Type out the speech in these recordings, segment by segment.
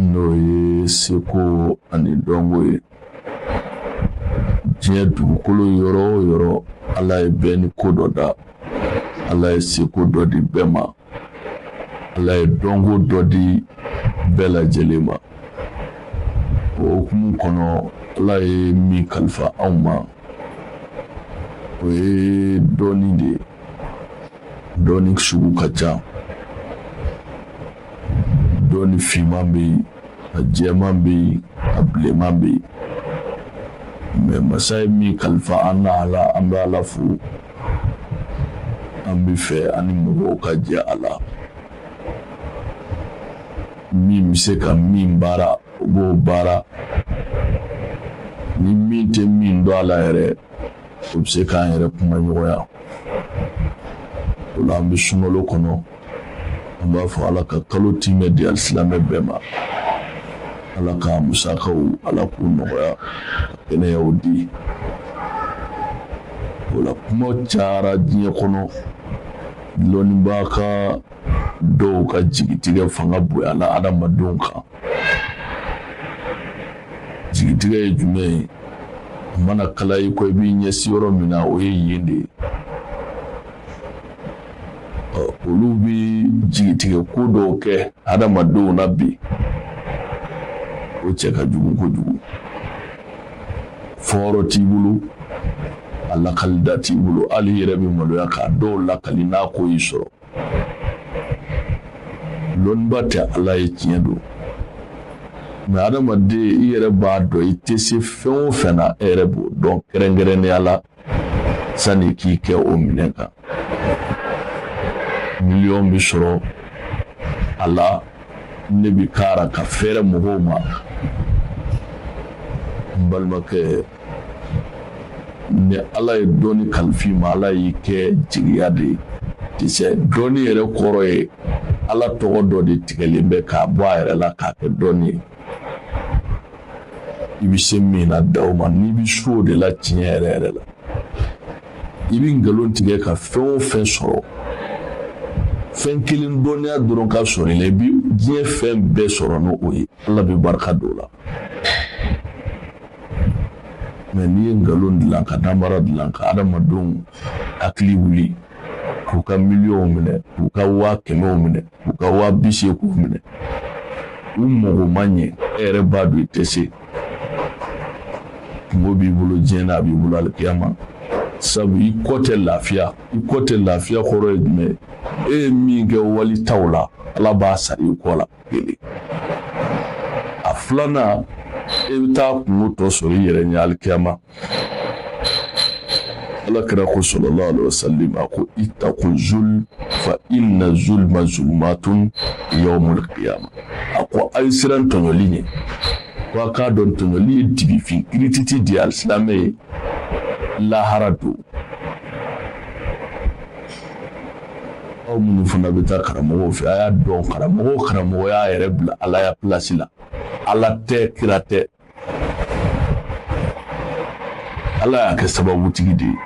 n'o ye seko ani dɔnko ye diɲɛ dugukolo yɔrɔ o yɔrɔ ala ye bɛɛ ni ko dɔ da ala ye seko dɔ di bɛɛ ma ala ye dɔnko dɔ di bɛɛ lajɛlen ma o hukumu kɔnɔ ala ye min kalifa anw ma o ye dɔnni de ye dɔnni sugu ka ca dɔnni finman bɛ yen a jɛman bɛ yen a bilenman bɛ yen mɛ masa ye min kalifa an na a la an bɛ ala fo an b'a fɛ an ni mɔgɔw ka jɛ a la min bɛ se ka min baara o b'o baara ni min tɛ min dɔn a la yɛrɛ o bɛ se k'an yɛrɛ kuma ɲɔgɔnya o la an bɛ sunkalo kɔnɔ an b'a fɔ ala ka kalo tiimɛ di alisilamɛ bɛɛ ma ala ka musakaw ala k'u nɔgɔya ka kɛnɛyaw di o la kuma cayara diɲɛ kɔnɔ lɔnnibaga dɔw ka jigitigɛ fanga bonyana adamadenw kan jigitigɛ ye jumɛn ye a mana kala i kɔ i b'i ɲɛsi yɔrɔ min na o ye yen de ye olu bɛ jigitigɛ ko dɔw kɛ adamadenw na bi o cɛ ka jugu kojugu fɔyɔrɔ t'i bolo a lakali da t'i bolo hali i yɛrɛ bɛ maloya k'a dɔw lakali n'a ko y'i sɔrɔ lɔnnibaa tɛ ala ye tiɲɛ don mɛ adamaden i yɛrɛ b'a dɔn i tɛ se fɛn o fɛn na e yɛrɛ b'o dɔn kɛrɛnkɛrɛnnenya la sani k'i kɛ o minɛn kan miliyɔn bɛ sɔrɔ a la ne bɛ kara k'a feere mɔgɔw ma n balimakɛ ni ala ye dɔnni kalifa i ma ala y'i kɛ jigiya de ye tisɛ dɔnni yɛrɛ kɔrɔ ye ala tɔgɔ dɔ de tigɛlen bɛ k'a bɔ a yɛrɛ la k'a kɛ dɔnni ye i bɛ se min na dan o ma n'i bɛ se o de la tiɲɛ yɛrɛ yɛrɛ la i bɛ nkalon tigɛ ka fɛn o fɛn sɔrɔ fɛn kelen dɔnniya dɔrɔn ka sɔrɔ i la i bɛ diɲɛ fɛn bɛɛ sɔrɔ n'o ye ala bɛ barika don o la mɛ n'i ye nkalon dilan ka nanbara dilan ka adamadenw hakili wuli k'u ka miliyɔnw minɛ k'u ka waa kɛmɛw minɛ k'u ka waa bi seeginw minɛ u mago ma ɲɛ e yɛrɛ b'a dɔn i tɛ se kunko b'i bolo diɲɛ na a b'i bolo alikiyama sabu i kɔ tɛ lafiya i kɔ tɛ lafiya kɔrɔ ye jumɛn e ye min kɛ wali taw la ala b'a sara i kɔ la kelen a filanan e bɛ taa kungo tɔ sɔrɔ i yɛrɛ ɲɛ alikiyama ala kira ko sallallahu alaihi wasallam a ko ittaqu zulm fa inna zulma zulmatun yawmul qiyamah a ko a ye siran tɔɲɔli ɲɛ ko a k'a dɔn tɔɲɔli ye dibifin kirititi de ye alisilamɛ ye lahara don aw minnu fana bɛ taa karamɔgɔw fɛ a y'a dɔn karamɔgɔ y'a yɛrɛ bila ala ya pilasi la ala tɛ kira tɛ ala y'a kɛ sababutigi de ye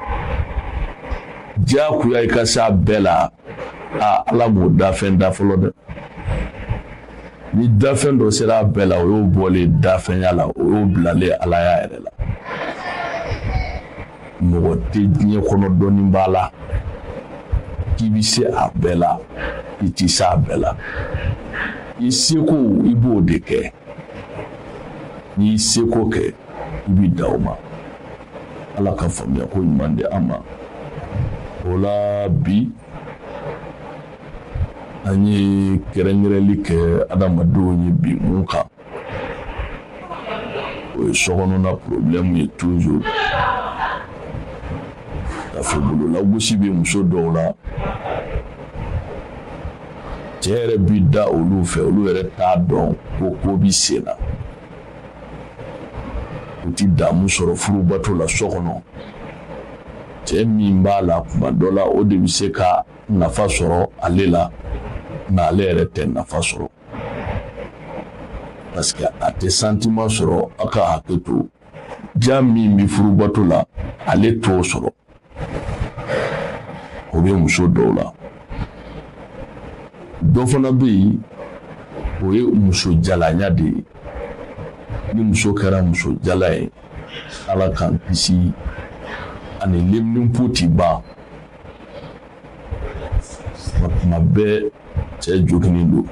diyagoya i ka se a bɛɛ la ala m'o dafɛn da fɔlɔ dɛ ni dafɛn dɔ sera a bɛɛ la o y'o bɔlen dafɛnya la o y'o bilalen alaya yɛrɛ la mɔgɔ tɛ diɲɛ kɔnɔ dɔnni b'a la k'i bɛ se a bɛɛ la i tɛ se a bɛɛ la i seko i b'o de kɛ n'i y'i seko kɛ i b'i da o ma ala ka faamuya ko ɲuman di an ma o la bi an ye kɛrɛnkɛrɛnli kɛ adamadenw ye bi mun kan o ye sokɔnɔna porobilɛmu ye tuzuru k'a fɔ bololagosi bɛ muso dɔw la cɛ yɛrɛ bi da olu fɛ olu yɛrɛ t'a dɔn ko ko bi sen na u ti damu sɔrɔ furubato la so kɔnɔ cɛɛ min b'a la kuma dɔ la o de bɛ se ka nafa sɔrɔ ale la nka ale yɛrɛ tɛ nafa sɔrɔ parce que a tɛ sentiment sɔrɔ a ka hakɛ to diya min bɛ furubato la ale t'o sɔrɔ o bɛ muso dɔw la dɔ fana bɛ yen o ye muso jalanya de ye ni muso kɛra muso jala ye ala k'an kisi ani leminanpo tɛ ban tuma bɛɛ cɛ joginnen don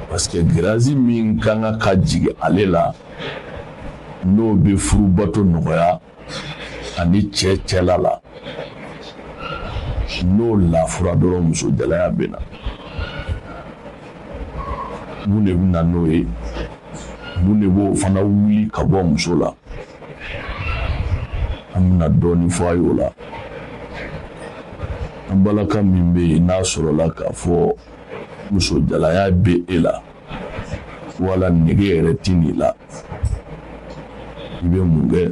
parce que graisse min kan ka ka jigin ale la n'o bɛ furubato nɔgɔya a ni cɛ cɛ la la n'o lafura dɔrɔn muso jalaya bɛ na mun de bɛ na n'o ye mun de b'o fana wuli ka bɔ muso la an bɛna dɔɔnin fɔ a y'o la an balaka min bɛ yen n'a sɔrɔla k'a fɔ musojalaya bɛ e la wala nege yɛrɛ tɛ nin la i bɛ mun kɛ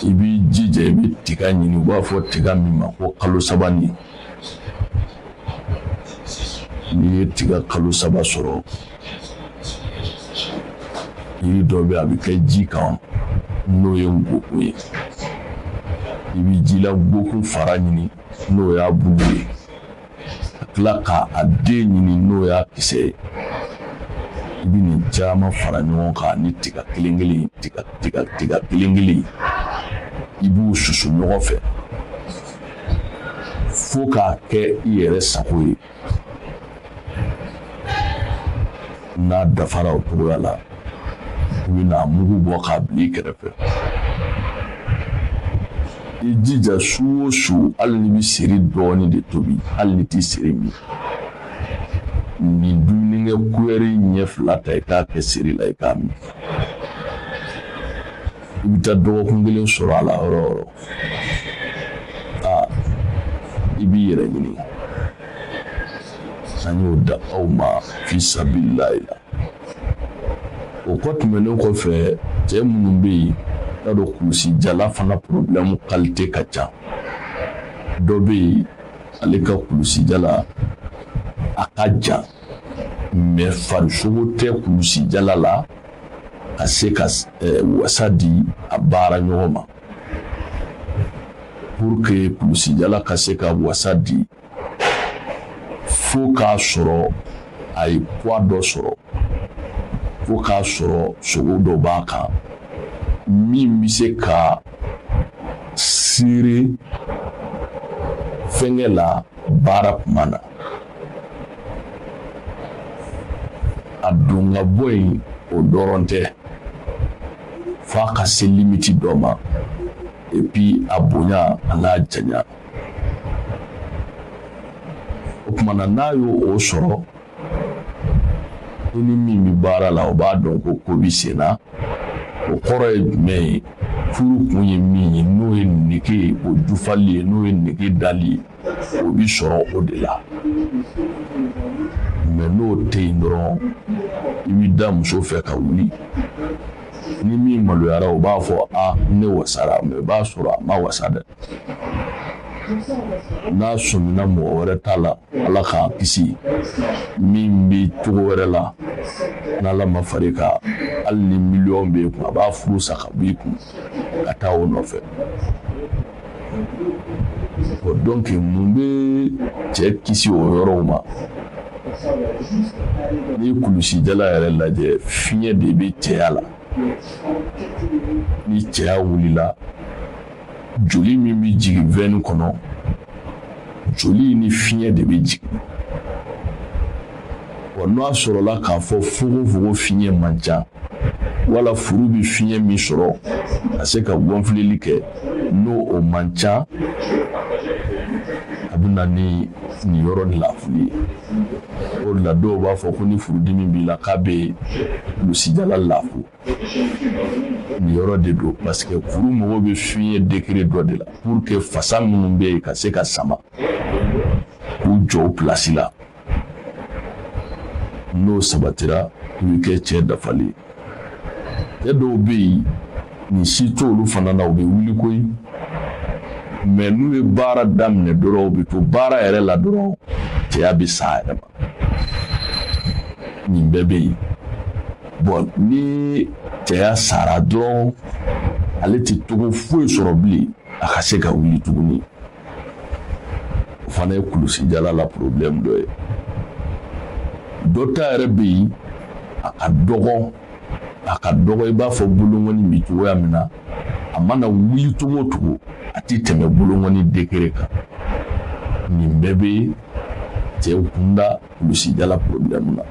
i b'i jija i bɛ tiga ɲini u b'a fɔ tiga min ma ko kalosabanin n'i ye tiga kalo saba sɔrɔ yiri dɔ bɛ a bɛ kɛ ji kan n'o ye ngokun ye i bɛ jila ngokun fara ɲini n'o y'a bulu ye ka tila k'a den ɲini n'o y'a kisɛ ye i bɛ nin caman fara ɲɔgɔn kan ni tiga kelen kelen tiga kelen kelen i b'u susu ɲɔgɔn fɛ fo k'a kɛ i yɛrɛ sago ye n'a dafara o cogoya la i bɛn'a mugu bɔ k'a bila i kɛrɛfɛ i jija su o su hali n'i bɛ seri dɔɔni de tobi hali n'i tɛ seri min nin dumunikɛ kuyɛri ɲɛ fila ta i k'a kɛ seri la i k'a min i bɛ taa dɔgɔkun kelen sɔrɔ a la yɔrɔ o yɔrɔ aa i b'i yɛrɛ ɲini an y'o da aw ma fi sabilillahi la o kɔ tɛmɛnen kɔfɛ cɛ minnu bɛ yen y'a dɔn kulusi jala fana porobilɛmu kalite ka ca dɔ bɛ yen ale ka kulusi jala a ka jan mais farisogo tɛ kulusi jala la ka se ka wasa di a baara ɲɔgɔn ma pour que kulusi jala ka se ka wasa di fo k'a sɔrɔ a ye poids dɔ sɔrɔ fo k'a sɔrɔ sogo dɔ b'a kan min bɛ se ka serrer fɛnkɛ la baara kuma na a don ka bɔ yen o dɔrɔn tɛ f'a ka se limiti dɔ ma et puis a bonya an'a janya o tuma na n'a y'o sɔrɔ i ni min bɛ baara la o b'a dɔn ko ko bɛ sen na o kɔrɔ ye jumɛn ye furu kun ye min ye n'o ye nege ye o dafali ye n'o ye nege dali ye o bi sɔrɔ o de la mais n'o tɛ yen dɔrɔn i bɛ da muso fɛ ka wuli ni min maloyara o b'a fɔ a ne wasara mais i b'a sɔrɔ a ma wasa dɛ n'a sɔmina mɔgɔ wɛrɛ ta la ala k'an kisi min bɛ cogo wɛrɛ la n'ala ma far'i kan hali ni miliyɔn b'i kun a b'a furu sa ka b'i kun ka taa o nɔfɛ donc mun bɛ cɛ kisi o yɔrɔw ma n'i ye kulusijala yɛrɛ lajɛ fiɲɛ de bɛ cɛya la ni cɛya wulila joli min bɛ jigin veine kɔnɔ joli ni fiɲɛ de bɛ jigin wa n'a sɔrɔla k'a fɔ fogofogo fiɲɛ man ca wala furu bɛ fiɲɛ min sɔrɔ ka se ka gɔnfilili kɛ n'o o man ca a bɛ na ni nin yɔrɔ lafuli ye o de la dɔw b'a fɔ ko ni furudimi b'i la k'a bɛ kulusijala lafu nin yɔrɔ de don parce que furu mago bɛ fiɲɛ degré dɔ de la pour que fasa minnu bɛ yen ka se ka sama k'u jɔ o place la n'o sabatira i bɛ kɛ cɛ dafalen cɛ dɔw bɛ yen nin si t'olu fana na u bɛ wuli koyi mais n'u ye baara daminɛ dɔrɔn u bɛ to baara yɛrɛ la dɔrɔn cɛya bɛ sa a yɛrɛ ma nin bɛɛ bɛ yen bon ni cɛya sara dɔrɔn ale tɛ togo foyi sɔrɔ bilen a ka se ka wuli tuguni o fana ye kulusijala la problème dɔ ye dɔ ta yɛrɛ bɛ yen a ka dɔgɔ a ka dɔgɔ i b'a fɔ bolongɔni bɛ cogoya min na a mana wuli cogo o cogo a tɛ tɛmɛ bolongɔni degré kan nin bɛɛ bɛ cɛw kunda kulusijala problème na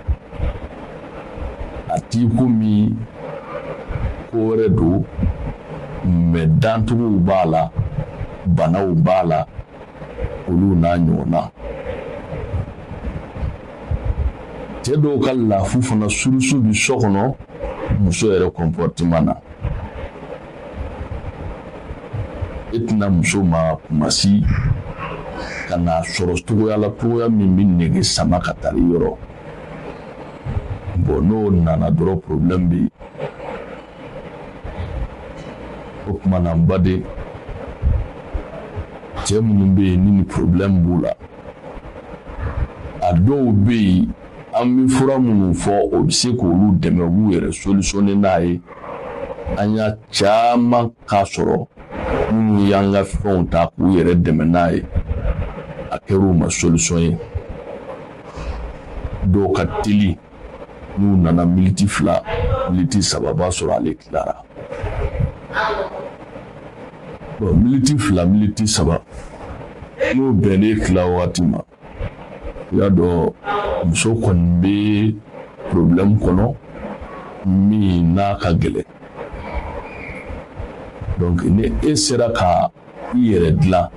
a t'i komi ko wɛrɛ don mais dantogow b'a la banaw b'a la olu n'a ɲɔgɔnna cɛ dɔw ka lafu fana source bi so kɔnɔ muso yɛrɛ comportement na e tɛna muso ma kuma si ka n'a sɔrɔ cogoya la cogoya min bɛ nege sama ka taa yɔrɔ bon n'o nana dɔrɔn problème bɛ yen o tuma na n baden cɛ minnu bɛ yen ni nin problème b'u la a dɔw bɛ yen an bɛ fura minnu fɔ o bɛ se k'olu dɛmɛ u b'u yɛrɛ solutionner n'a ye. an y'a caman k'a sɔrɔ minnu y'an ka fɛnw ta k'u yɛrɛ dɛmɛ n'a ye a kɛr'u ma solisɔn ye dɔw ka teli n'u nana miniti fila miniti saba b'a sɔrɔ ale tilara miniti fila miniti saba n'o bɛnnen tila wagati ma i y'a dɔn muso kɔni bɛ problème kɔnɔ min n'a ka gɛlɛn donc ni e sera ka i yɛrɛ dilan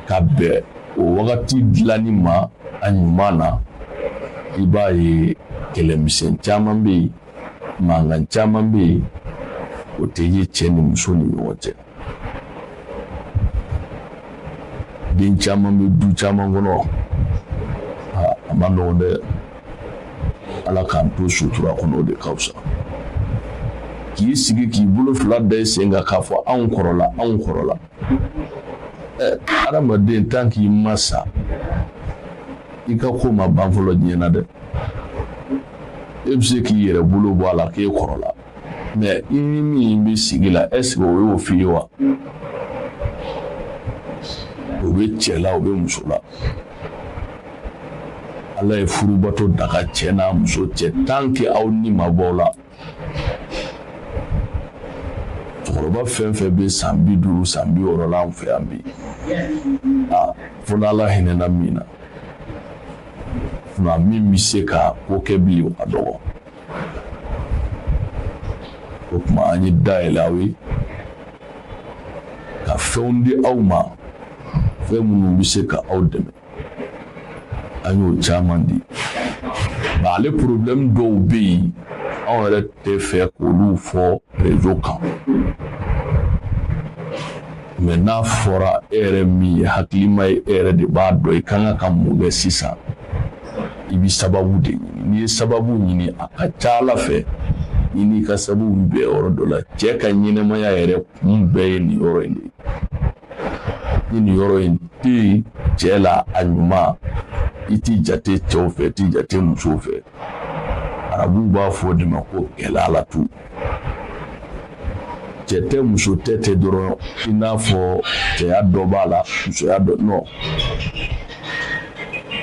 ka bɛn o wagati dilanni ma a ɲuman na i b'a ye kɛlɛmisɛn caman bɛ yen mankan caman bɛ yen o tɛ ye cɛ ni muso ni ɲɔgɔn cɛ den caman bɛ du caman kɔnɔ a man nɔgɔn dɛ ala k'an to sutura kɔnɔ o de ka fisa k'i sigi k'i bolo fila da i sen kan k'a fɔ anw kɔrɔla anw kɔrɔla ɛ adamaden tan k'i ma sa i ka ko ma ban fɔlɔ diɲɛ na dɛ e bɛ se k'i yɛrɛ bolo bɔ a la k'e kɔrɔla mɛ i ni min bɛ sigi la ɛseke o y'o f'i ye wa o bɛ cɛ la o bɛ muso la ala ye furubato daga cɛ n'a muso cɛ tant que aw ni ma bɔ aw la cɛkɔrɔba fɛn fɛn bɛ san bi duuru san bi wɔɔrɔ la an fɛ yan bi a fo n'ala hinɛna min na nka min bɛ se ka ko kɛ bilen o ka dɔgɔ o tuma an ye da yɛlɛ aw ye ka fɛnw di aw ma fɛn minnu bɛ se ka aw dɛmɛ an y'o caman di nka ale porobilɛmu dɔw bɛ yen anw yɛrɛ tɛ fɛ k'olu fɔ rezo kan mɛ n'a fɔra e yɛrɛ min ye hakilima ye e yɛrɛ de b'a dɔn i ka kan ka mun kɛ sisan i bɛ sababu de ɲini n'i ye sababu ɲini a ka ca ala fɛ i n'i ka sababu bɛ bɛn yɔrɔ dɔ la cɛ ka ɲɛnamaya yɛrɛ kun bɛɛ ye nin yɔrɔ in de ye ni nin yɔrɔ in tɛ yen cɛ la a ɲuman i tɛ jate cɛw fɛ i tɛ jate musow fɛ arabuw b'a fɔ o de ma ko gɛlɛya la tu cɛ tɛ muso tɛ tɛ dɔrɔn i n'a fɔ cɛya dɔ b'a la musoya dɔ non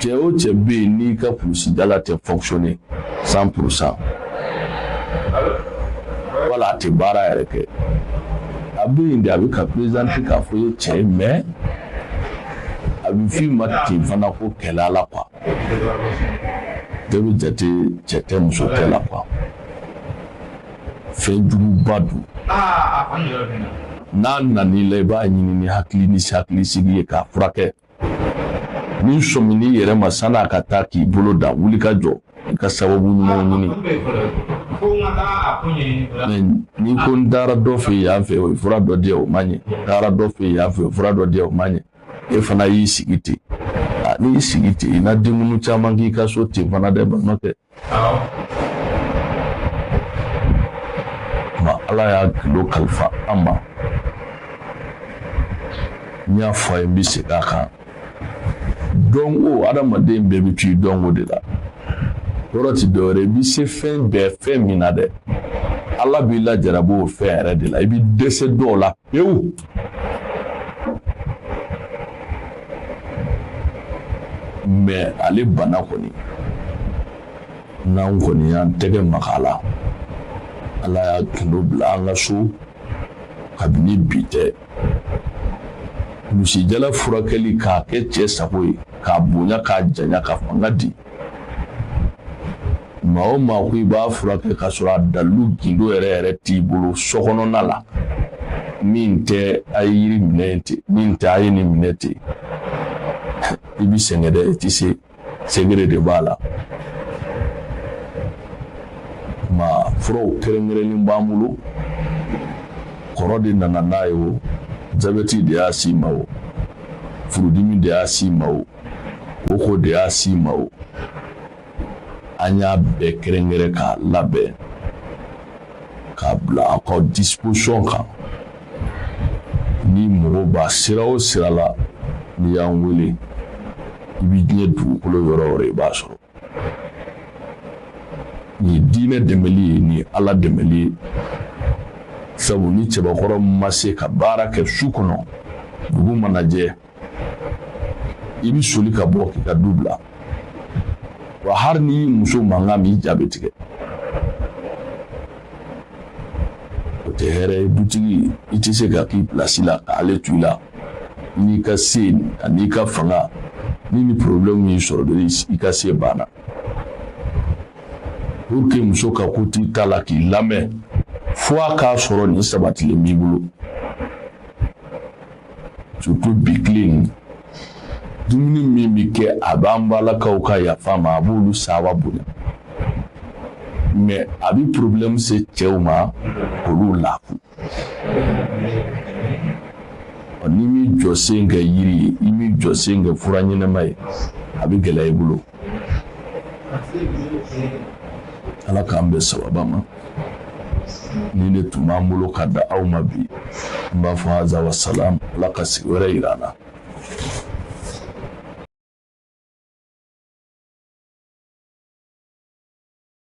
cɛ o cɛ bɛ yen n'i ka kulusijala tɛ fonctionner cent pourcent wala a tɛ baara yɛrɛ kɛ a bɛ yen de a bɛ ka perezanti k'a fɔ i ye cɛ ye mɛ a bɛ f'i ma ten fana ko kɛlɛ la kuwa bɛɛ bɛ jate cɛ tɛ muso tɛ la quoi fɛn juguba don n'a nan'i la i b'a ɲini ni hakili ni hakilisigi ye k'a furakɛ n'i sɔmin'i yɛrɛ ma sani a ka taa k'i bolo dan wuli ka jɔ i ka sababu ɲumanw ɲini n'i ko n taara dɔ fɛ yen yan fɛ o ye fura dɔ di yan o ma ɲɛ n taara dɔ fɛ yen yan fɛ o ye fura dɔ di yan o ma ɲɛ e fana y'i sigi ten n'i y'i sigi ten i na denkundi caman k'i ka so ten fana dɛ balimakɛ ma ala y'a gundo kalifa an ma n y'a fɔ a ye n bɛ segin a kan dɔnko adamaden bɛɛ bɛ to i dɔnko de la yɔrɔ ti dɔwɛrɛ i bɛ se fɛn bɛɛ fɛn min na dɛ ala b'i lajarabi o fɛn yɛrɛ de la i bɛ dɛsɛ dɔw la pewu mais ale bana kɔni n'an kɔni y'an tɛgɛ maga a la ala y'a gundo bila an ka so kabini bi tɛ kulusijala furakɛli k'a kɛ cɛ sago ye k'a bonya k'a janya ka fanga di maa o maa ko i b'a furakɛ ka sɔrɔ a dalilu gundo yɛrɛ yɛrɛ t'i bolo sokɔnɔna la min tɛ a ye yiri minɛ ten min tɛ a ye nin minɛ ten i bi sɛgɛn dɛ i ti se secret de b'a la ma furaw kɛrɛnkɛrɛnnen b'an bolo kɔrɔ de nana n'a ye o jabɛti de y'a s'i ma o furudimi de y'a s'i ma o koko de y'a s'i ma o an y'a bɛɛ kɛrɛnkɛrɛn k'a labɛn k'a bila aw ka disposition kan ni mɔgɔ b'a sira o sira la n'i y'an wele i bɛ diɲɛ dugukolo yɔrɔ o yɔrɔ i b'a sɔrɔ nin ye diinɛ dɛmɛli ye nin ye ala dɛmɛli ye sabu ni cɛbakɔrɔ ma se ka baara kɛ su kɔnɔ dugu mana jɛ i bɛ soli ka bɔ k'i ka du bila wa hali n'i y'i muso mankan mɛn i ja bɛ tigɛ o tɛ hɛrɛ ye dutigi i tɛ se ka k'i pilasi la k'ale to i la n'i ka se an'i ka fanga ni nin porobilɛmu y'i sɔrɔ dɔrɔn i ka se banna pour que muso ka kot'i ta la k'i lamɛn fo a k'a sɔrɔ nin sabatilen b'i bolo surtout bi tile in dumuni min bɛ kɛ a b'an balakaw ka yafa ma a b'olu saba bonya mais a bɛ problème se cɛw ma olu lafu n'i m'i jɔsen kɛ yiri ye i m'i jɔsen kɛ fura ɲɛnama ye a bɛ gɛlɛya i bolo ala k'an bɛn sababa ma nin de tun b'an bolo ka da aw ma bi n b'a fɔ haza wa salam ala ka sigi wɛrɛ yira an na